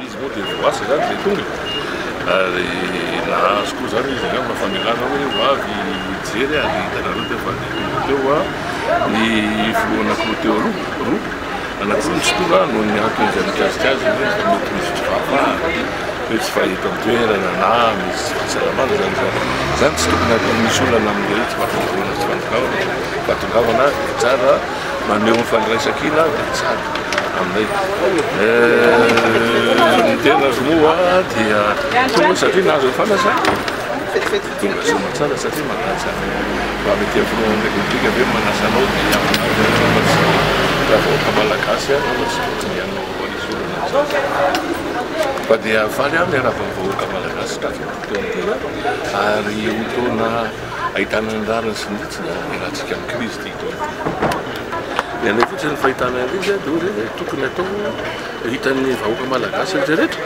Izy moa dia ho asa izany dia tonga ary nahazo koa izany izy angamba famelana hoe ho avy hijery ary hitanareo teo fa dia tonga teo a ny filohan'akoho teo roa roa anankiroa misy tonga noho ny antony izay mikasika azy hoe mety misy tsy fahafahana hoe tsy fahita an-toerana na misy tsy fahasalamana izany izany izany tsy tokony atao misy olana amin'ireo tsy fahafaharoana tsy fahatongavan fa tongavana dia tsara Maneho ny fandraisan-kina aho dia tsara aminay. Ny tenako moa dia tonga satria nahazo ny fanasana. Tonga soa tsara satria manasa ny Comité Front République ve manasa anao dia raha vahoaka malagasy ihany anao tsy tokony hanao hanisorana an'izany. Fa dia faly aho miarahaba ny vahoaka malagasy tato an-toerana ary ho taona ahitana ny rariny sy ny hitsiny ny ratsy gamin-kirizy ity. Ny anay koa izany fahitana an'ireny izany dia ohatra hoe tokony atao hitan'ny vahoaka malagasy rehetra rehetra.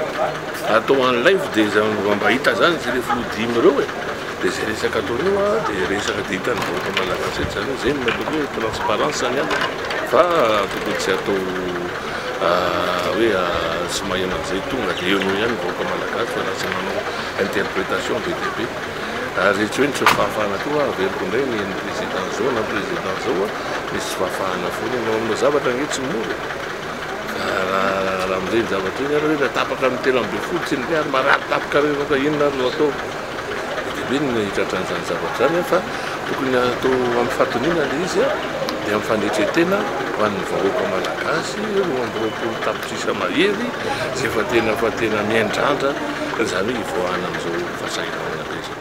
Atao en live dia izany mba mba hita izany izay rehefa hodim ireo e. Dia izay resaka atao eo a dia resaka dia hitan'ny vahoaka malagasy rehetra izany. Izay no natao hoe transparence izany an. Fa tokony tsy atao hoe tsy maheno an'izay tonga dia eo no eo ihany ny vahoaka malagasy fa lasa manao interpretation be dia be. Ary tsy hoe nisy fahafahana koa hoe averiko indray ny ny président izao na ny président izao a, nisy tsy fahafahana foana ianao, aminao zavatra ange tsy mora e! ka raha raha amin'ireny zavatra ireny ary hoe raha tapaka ny telo ambin'ny folo tsy ny ary marary tapaka reny ka inona ary no atao? be dia be ny hitratra an'izany zavatra izany a, fa tokony atao amin'ny fahatoniana ilay izy a, dia amin'ny fandretrentena ho an'ny vahoaka malagasy roa amby roapolo tapa-. Sisa mahery izay fa tena fa tena miandrandra izany hoe hivoahana amin'izao fahasahiranana be izao.